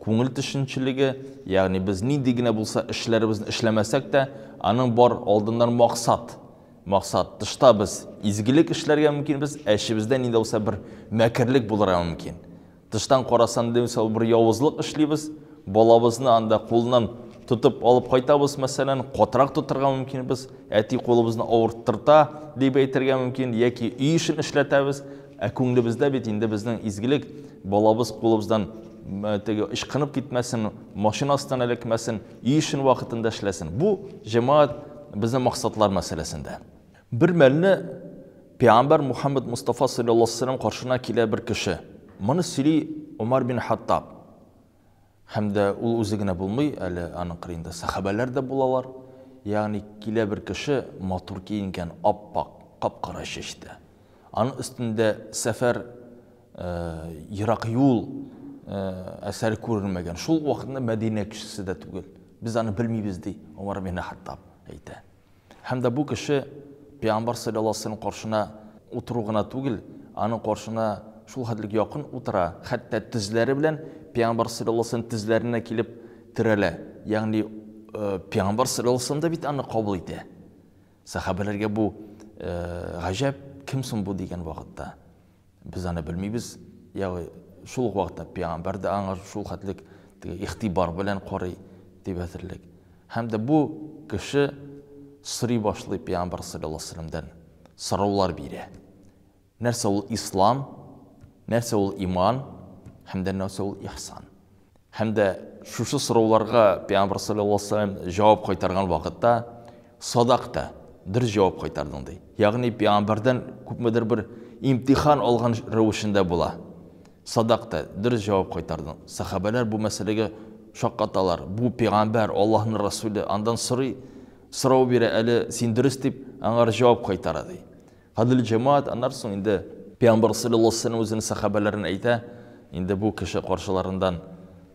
Күңел төшенчелеге, ягъни без нинди генә булса эшләребезне эшләмәсәк тә, аның бар алдыннан максат, максат. Тышта без изгелек эшләргә мөмкинбез, ә эчебездә нинди булса бер мәкерлек булырга мөмкин. Тыштан караса нинди булса бер явызлык эшлибез, балабызны анда кулыннан тотып алып кайтабыз, мәсәлән, катырак тотырга мөмкинбез, әти кулыбызны авырттырта, дип әйтергә мөмкин, яки өй эшен эшләтәбез, Ә күңлебездә бит инде безнең изгелек, балабыз кулыбыздан теге ычкынып китмәсен, машина астына эләкмәсен, өй эшен вакытында эшләсен. Бу җәмәгать безнең максатлар мәсьәләсендә. Бер мәлне пәйгамбәр Мухаммад Мостафа салләллаһу алейһи ва сәлләм каршына килә бер кеше. Моны сөйли Умар бин Хаттаб. Һәм дә ул үзе генә булмый, әле аның кырыенда сәхабәләр дә булалар. Ягъни килә бер кеше, матур киенгән, ап-ак, кап-кара чәчтә. Аның өстендә сәфәр, э, ерак юл, э, әсәре күренмәгән. Шул ук вакытны Мәдинә кешесе дә түгел. Без аны белмибез, ди Умар ибн Хаттаб әйтә. Һәм дә бу кеше пәйгамбәр саллаллаһу алейһи ва сәлләм каршына утыру гына түгел, аның каршына шул хәтлек якын утыра, хәтта тезләре белән пәйгамбәр саллаллаһу алейһи ва сәлләм тезләренә килеп терәлә. Ягъни пәйгамбәр саллаллаһу алейһи ва сәлләм дә бит аны кабул итә. Сәхабәләргә бу гаҗәп, кем соң бу дигән вакытта. Без аны белмибез. Ягъни шул ук вакытта пәйгамбәр дә аңа шул хәтлек теге игътибар белән карый дип әзерлек. Һәм дә бу кеше сорый башлый пәйгамбәр саллаллаһу алейһи вәсәлләмдән, сораулар бирә. Нәрсә ул ислам, нәрсә ул иман һәм дә нәрсә ул ихсан? Һәм дә шушы сорауларга пәйгамбәр саллаллаһу алейһи ва сәлләм җавап кайтарган вакытта, Садакта, дөрес җавап кайтардың, ди. Ягъни пәйгамбәрдән күпмедер бер имтихан алган рәвешендә була. Садакта, дөрес җавап кайтардың. Сәхабәләр бу мәсьәләгә шаккаталар. Бу пәйгамбәр, Аллаһның Расуле, андан сорый, сорау бирә, әле син дөрес дип, аңар җавап кайтара, ди. Гадел җәмәгать, аннары соң инде пәйгамбәр салләллаһу алейһи ва сәлләм үзенең сәхабәләрен әйтә, инде бу кеше каршыларыннан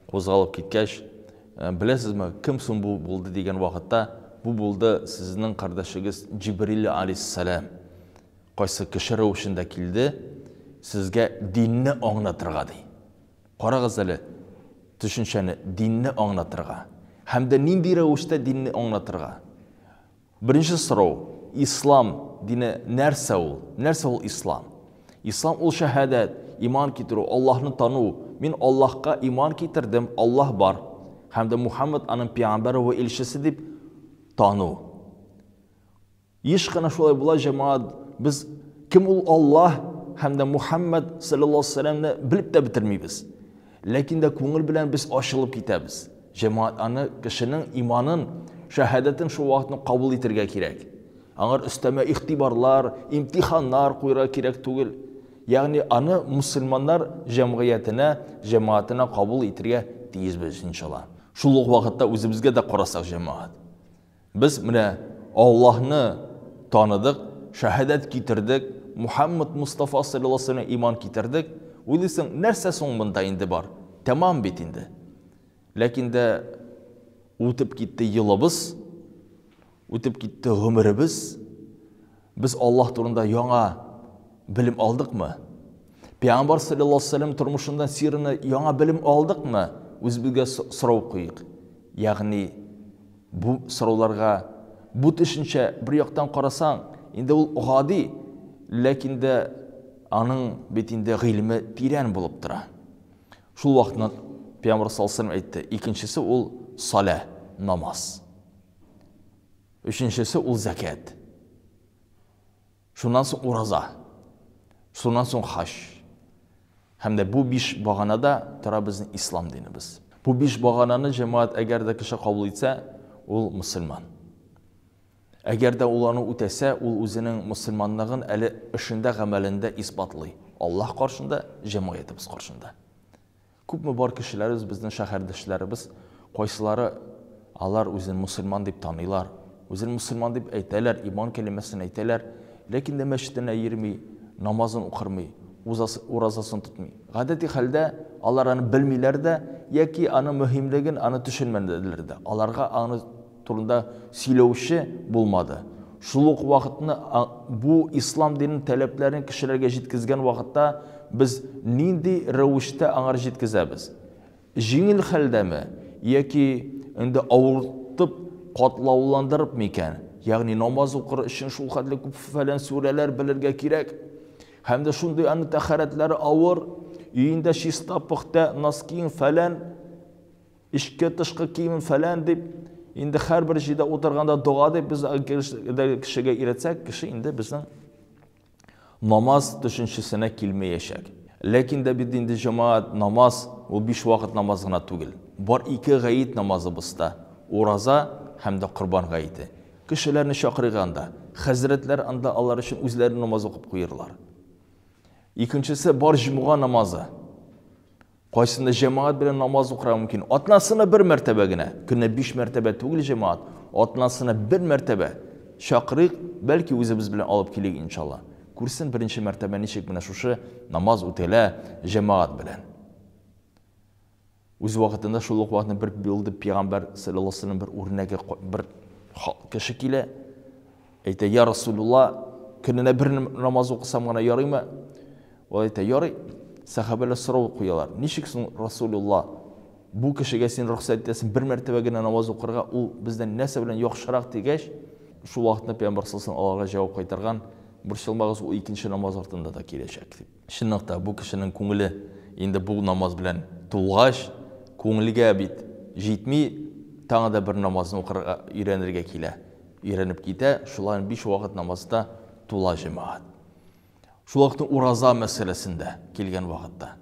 кузгалып киткәч, Беләсезме, кем соң бу булды дигән вакытта, Бу булды сезнең кардәшегез Җибрил алейһиссәлам. Кайсы кеше рәвешендә килде, сезгә динне аңлатырга, ди. Карагыз әле төшенчәне, динне аңлатырга. Һәм дә нинди рәвештә динне аңлатырга? Беренче сорау, Ислам дине нәрсә ул? Нәрсә ул Ислам? Ислам ул шәһадәт, иман китерү, Аллаһны тану. Мин Аллаһка иман китердем, Аллаһ бар һәм дә Мухаммад аның пиамбәре вә илчесе дип тану. Еш кына шулай була, җәмәгать, без кем ул Аллаһ һәм дә Мухаммад саллаллаһу алейһи ва сәлләмне белеп тә бетермибез. Ләкин дә күңел белән без ачылып китәбез. Җәмәгать аны, кешенең иманын, шәһадәтен шул вакытны кабул итергә кирәк. Аңар өстәмә игътибарлар, имтиханнар куерга кирәк түгел. Ягъни аны мөселманнар җәмгыятенә, җәмәгатенә кабул итергә тиешбез, иншалла. Шул ук вакытта үзебезгә дә карасак, җәмәгать. Без менә Аллаһны таныдык, шәһадәт китердек, Мухәммәд Мостафа салләллаһу галәйһи ва сәлләмә иман китердек, уйлыйсың, нәрсә соң монда инде бар, тәмам бит инде. Ләкин дә үтеп китте елыбыз, үтеп китте гомеребез. Без Аллаһ турында яңа белем алдыкмы? Пәйгамбар саллаллаһу алейһи ва сәлләм тормышыннан, сирына яңа белем алдыкмы? Үзебезгә сорау куйыйк. Ягъни бу сорауларга бу төшенчә бер яктан карасаң, инде ул гади, ләкин дә аның бит инде гыйлеме тирән булып тора. Шул вакытны Пәйгамбар саллаллаһу алейһи ва сәлләм әйтте, икенчесе ул салә, намаз. Өченчесе ул зәкят. Шуннан соң ураза. Шуннан соң хаҗ. Һәм дә бу биш баганада тора безнең ислам динебез. Бу биш багананы җәмәгать әгәр дә кеше кабул итсә, ул мөселман. Әгәр дә ул аны үтәсә, ул үзенең мөселманлыгын әле эшендә, гамәлендә исбатлый, Аллаһ каршында, җәмгыятебез каршында. Күпме бар кешеләребез, безнең шәһәрдәшләребез, кайсылары алар үзен мөселман дип таныйлар, үзен мөселман дип әйтәләр, иман кәлимәсен әйтәләр, ләкин дә мәчетенә йөрми, намазын укырмый, уразасын тотмый. Гадәти хәлдә алар аны белмиләр дә яки аның мөһимлеген аны төшенмәделәр дә. Аларга аны турында сөйләүче булмады. Шул ук вакытны бу ислам диненең таләпләрен кешеләргә җиткезгән вакытта без нинди рәвештә аңар җиткезәбез? Җиңел хәлдәме яки инде авыртып, катлауландырып микән? Ягъни намаз укыр өчен шулхәтле күп фәлән сүрәләр белергә кирәк. Һәм дә шундый аның тәхәрәтләре авыр, өендә чиста, пөхтә, носкиың фәлән. Эчке-тышкы киемем фәлән дип, инде һәрбер җирдә утырганда дога дип без кешегә өйрәтсәк, кеше инде безнең намаз төшенчесенә килмәячәк. Ләкин дә бит инде җәмәгать намаз ул биш вакыт намаз гына түгел. Бар ике гаит намазыбыз да, ураза һәм дә корбан гаете. Кешеләрне чакырыйк анда. Хәзрәтләр анда алар өчен үзләре намаз укып куерлар. Икенчесе бар җомга намазы. Кайсында җәмәгать белән намаз укырга мөмкин? Атнасына бер мәртәбә генә. Көненә биш мәртәбә түгел җәмәгать, атнасына бер мәртәбә чакырыйк, бәлки үзебез белән алып килик иншалла. Күрсен беренче мәртәбә ничек менә шушы намаз үтәлә җәмәгать белән. Үз вакытында шул ук вакытны бер булды пәйгамбәр саллаллаһу алейһи бер үрнәге бер кеше килә, Әйтә, Йа Расулулла, көненә бер намаз укысам гына ярыймы? Ул әйтә, Ярый. Сәхабәләр сорау куялар, Ничек соң, Расулулла, бу кешегә син рөхсәт итәсең бер мәртәбә генә намаз укырга, ул бездән нәрсә белән яхшырак? дигәч, шул вакытны пәйгамбәр саллаллаһу алейһи ва сәлләм җавап кайтарган, Борчылмагыз, ул икенче намаз артында да киләчәк, дип. Чынлап та, бу кешенең күңеле инде бу намаз белән тулгач, күңелгә бит җитми, тагы да бер намазны укырга өйрәнергә килә. Өйрәнеп китә, шулай биш вакыт намазда тула җәмәгать. Шул ук ураза мәсьәләсендә килгән вакытта,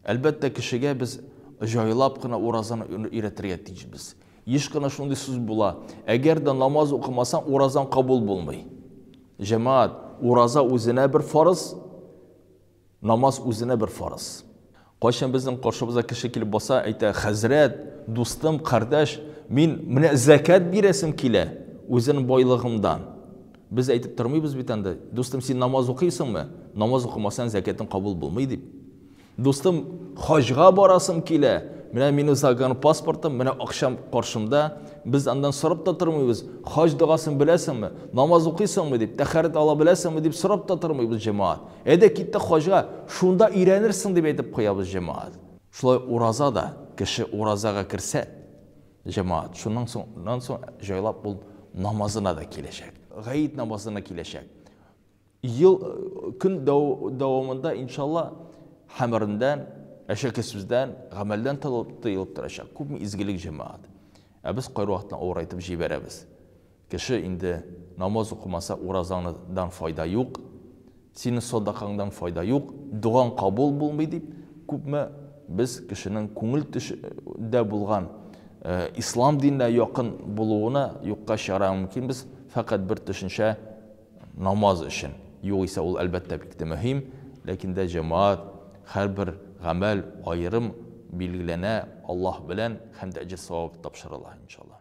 әлбәттә, кешегә без җайлап кына уразаны өйрәтергә тиешбез. Еш кына шундый сүз була, Әгәр дә намаз укымасаң, уразаң кабул булмый. Җәмәгать, ураза үзенә бер фарыз, намаз үзенә бер фарыз. Кайчан безнең каршыбызга кеше килеп баса, әйтә, хәзрәт, дустым, кардәш, мин менә зәкәт бирәсем килә, үзенең байлыгымдан. Без әйтеп тормыйбыз бит анда, дустым, син намаз укыйсыңмы? Намаз укымасаң, зәкәтең кабул булмый, дип. Дустым, хаҗга барасым килә, менә минем загран паспортым, менә акчам каршымда, без андан сорап та тормыйбыз, хаҗ догасын беләсеңме, намаз укыйсыңмы дип, тәхәрәт ала беләсеңме дип сорап та тормыйбыз, җәмәгать. Әйдә киттек хаҗга, шунда өйрәнерсең дип әйтеп куябыз, җәмәгать. Шулай ураза да, кеше уразага керсә, җәмәгать, шуннан соң, җайлап ул намазына да киләчәк, гает намазына киләчәк. Ел көн дәвамында иншалла хәмердән, әшәкесүздән, гамәлдән тыелып торачак күпме изгелек җәмәгать. Ә без кайрвакытны авырайтып җибәрәбез. Кеше инде намаз укымаса уразаңны дан файда юк, синең садакаңдан файда юк, догаң кабул булмый дип күпме без кешенең күңел төше дә булган ислам диненә якын булуына юкка чыгарга мөмкинбез фәкать бер төшенчә Намаз өчен. Югыйсә ул, әлбәттә, бик тә мөһим. Ләкин дә җәмәгать, һәрбер гамәл аерым билгеләнә Аллаһ белән һәм дә әҗер-савап тапшырыла, иншаллаһ.